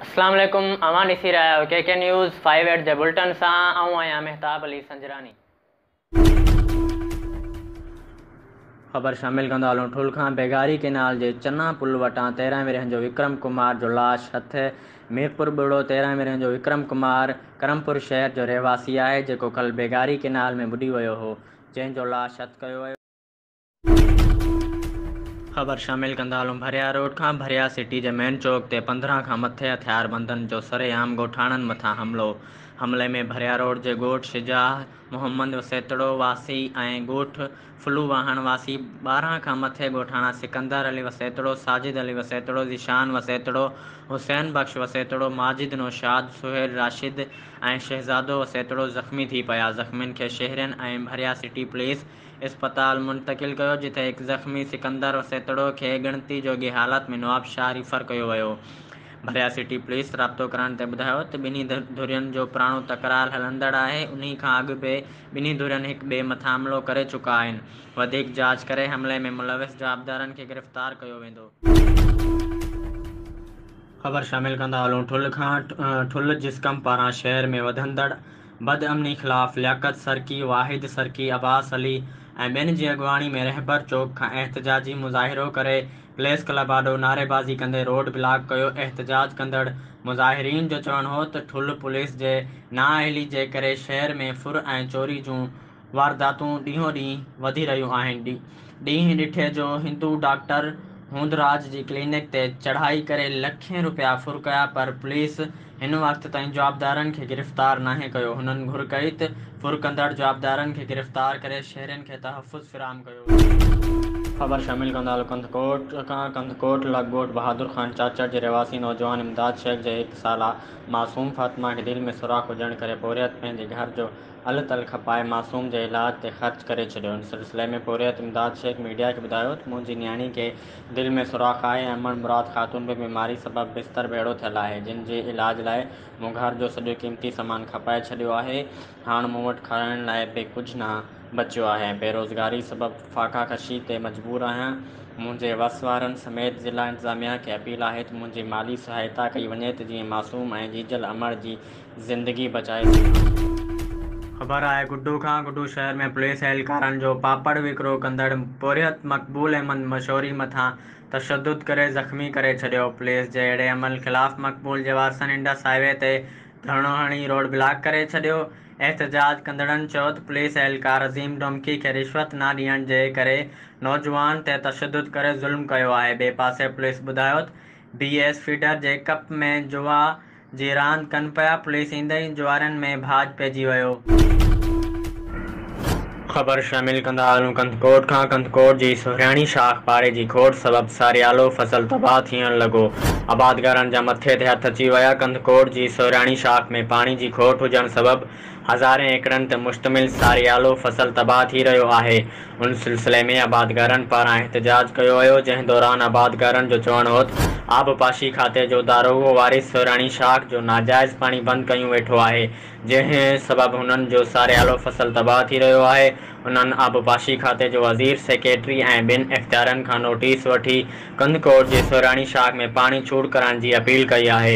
اسلام عليڪم اوهان ڏسي رهيا آهيو K K news five eight جي بلٽن سان آئون آهيان مهتاب علي سنجراني. خبر شامل ڪندا هلون ٺل کان بيگاري ڪينال جي چنا پل وٽان تيرهن ورهين جو وڪرم ڪمار جو لاش هٿ ميرپور ٻڙو تيرهن ورهين جو وڪرم ڪمار ڪرمپور شهر جو رهواسي آهي جيڪو ڪل بيگاري ڪينال ۾ ٻڏي ويو هو جنهن جو لاش هٿ ڪيو ويو خبر شامل ڪندا هلون ڀريا روڊ کان ڀريا سٽي جي مين چوڪ تي پندرهن کان مٿي هٿياربندن جو سري عام ڳوٺاڻن مٿان حملو حملي ۾ ڀريا روڊ جي ڳوٺ شجاع محمد وسيتڙو واسي ۽ ڳوٺ ڦلو واهڻ واسي ٻارهن کان مٿي ڳوٺاڻا سڪندر علي وسيتڙو ساجد علي وسيتڙو ذيشان وسيتڙو حسين بخش وسيتڙو ماجد نوشاد سهيل راشد ۽ شهزادو وسيتڙو زخمي ٿي پيا زخمين کي شهرين ۽ ڀريا سٽي پوليس اسپتال منتقل ڪيو جتي هڪ زخمي سڪندر سيتڙو کي ڳڻتي جوڳي حالت ۾ نوابشاهه ريفر ڪيو ويو. ڀريا سٽي پوليس رابطو ڪرڻ تي ٻڌايو ته ٻنهي ڌرين جو پراڻو تڪرار هلندڙ آهي انهي کان اڳ به ٻنهي ڌرين هڪ ٻئي مٿان حملو ڪري چڪا آهن وڌيڪ جاچ ڪري حملي ۾ ملوث جوابدارن کي گرفتار ڪيو ويندو. خبر شامل ڪندا هلون ٺلهه کان ٺلهه جسقم پاران شهر ۾ وڌندڙ بد امني خلاف لياقت سرڪي، واحد سرڪي، عباس علي ۽ ٻين جي اڳواڻي ۾ رهبر چوڪ کان احتجاجي مظاهرو ڪري پليس ڪلب آڏو نعريبازي ڪندي روڊ بلاڪ ڪيو احتجاج ڪندڙ مظاهرين جو چوڻ هو ته ٺلهه پوليس جي نااهلي جي ڪري شهر ۾ ڦر ۽ چوري جون وارداتون ڏينهون ڏينهن وڌي رهيون آهن، ڏينهن ڏٺي جو هندو ڊاڪٽر هوندراج جي ڪلينڪ تي چڙهائي ڪري لکين روپيا ڦر ڪيا پر پوليس هن وقت تائين جوابدارن کي گرفتار ناهي ڪيو، هنن گهر ڪئي ته ڦر ڪندڙ جوابدارن کي گرفتار ڪري شهرين کي تحفظ فراهم ڪيو وڃي. خبر شامل ڪندالو ڪنڌڪوٽ کان ڪنڌڪوٽ لڳ ڳوٺ بهادر خان چاچڙ جي رهواسي نوجوان امداد شيخ جي هڪ سالا معصوم فاطمه کي دل ۾ سوراخ هجڻ ڪري پورهيت پنهنجي گهر جو هل تل کپائي معصوم جي علاج تي خرچ ڪري ڇڏيو. ان سلسلي ۾ پورهيت امداد شيخ ميڊيا کي ٻڌايو ته منهنجي نياڻي کي دل ۾ سوراخ آهي ۽ امڙ مراد خاتون به بيماري سبب بستر ڀيڙو ٿيل آهي جن جي علاج لاء مون گهر جو سڄو قيمتي سامان کپائي ڇڏيو آهي هاڻ مون وٽ کارائڻ لاء به ڪجهه نه بچيو آهي ۽ بيروزگاري سبب فاقا ڪشي تي مجبور آهيان منهنجي وس وارن سميت ضلع انتظاميا کي اپيل آهي ته منهنجي مالي سهائتا ڪئي وڃي ته جيئن معصوم ۽ ڄيجل امڙ جي زندگي بچائي سگهندو. خبر آهي گڊو کان؟ گڊو شهر ۾ پوليس اهلڪارن جو پاپڙ وڪرو ڪندڙ پورهيت مقبول احمد مشوري مٿان تشدد ڪري زخمي ڪري ڇڏيو. پوليس جي اهڙي عمل خلاف مقبول جي وارثن انڊس هاء وي تي ڌرڻو هڻي روڊ بلاڪ ڪري ڇڏيو. احتجاج ڪندڙن چيو ته پوليس اهلڪار عظيم ڊومڪي کي رشوت نه ڏيڻ جي ڪري نوجوان تي تشدد ڪري ظلم ڪيو آهي. ٻئي پاسي پوليس ٻڌايو ته بي ايس فيڊر جي ڪپ ۾ جوا جي راند ڪن پيا، پوليس ايندي ئي جوارين ۾ ڀاڄ پئجي ويو. خبر شامل ڪندا هلون ڪنڌڪوٽ کان، ڪنڌڪوٽ جي سهرياڻي شاخ پاڙي جي کوٽ سبب ساريالو فصل تباهه ٿيڻ لڳو، آبادگارن جا مٿي تي هٿ اچي ويا، ڪنڌڪوٽ جي سهرياڻي شاخ ۾ پاڻي جي کوٽ هجڻ سبب. هزارين ايڪڙن تي مشتمل ساريالو فصل تباهه ٿي رهيو آهي، ان سلسلي ۾ آبادگارن پاران احتجاج ڪيو ويو، جنهن دوران آبادگارن جو چوڻ هوت آبپاشي کاتي جو داروغو وارث سهراڻي شاخ جو ناجائز پاڻي بند ڪيون ويٺو آهي، جنهن سبب هنن جو ساريالو فصل تباهه ٿي رهيو آهي، انهن آبپاشي کاتي جو وزير، سيڪريٽري ۽ ٻين اختيارين کان نوٽيس وٺي ڪنڌڪوٽ جي سهراڻي شاخ ۾ پاڻي ڇوٽ ڪرائڻ جي اپيل ڪئي آهي.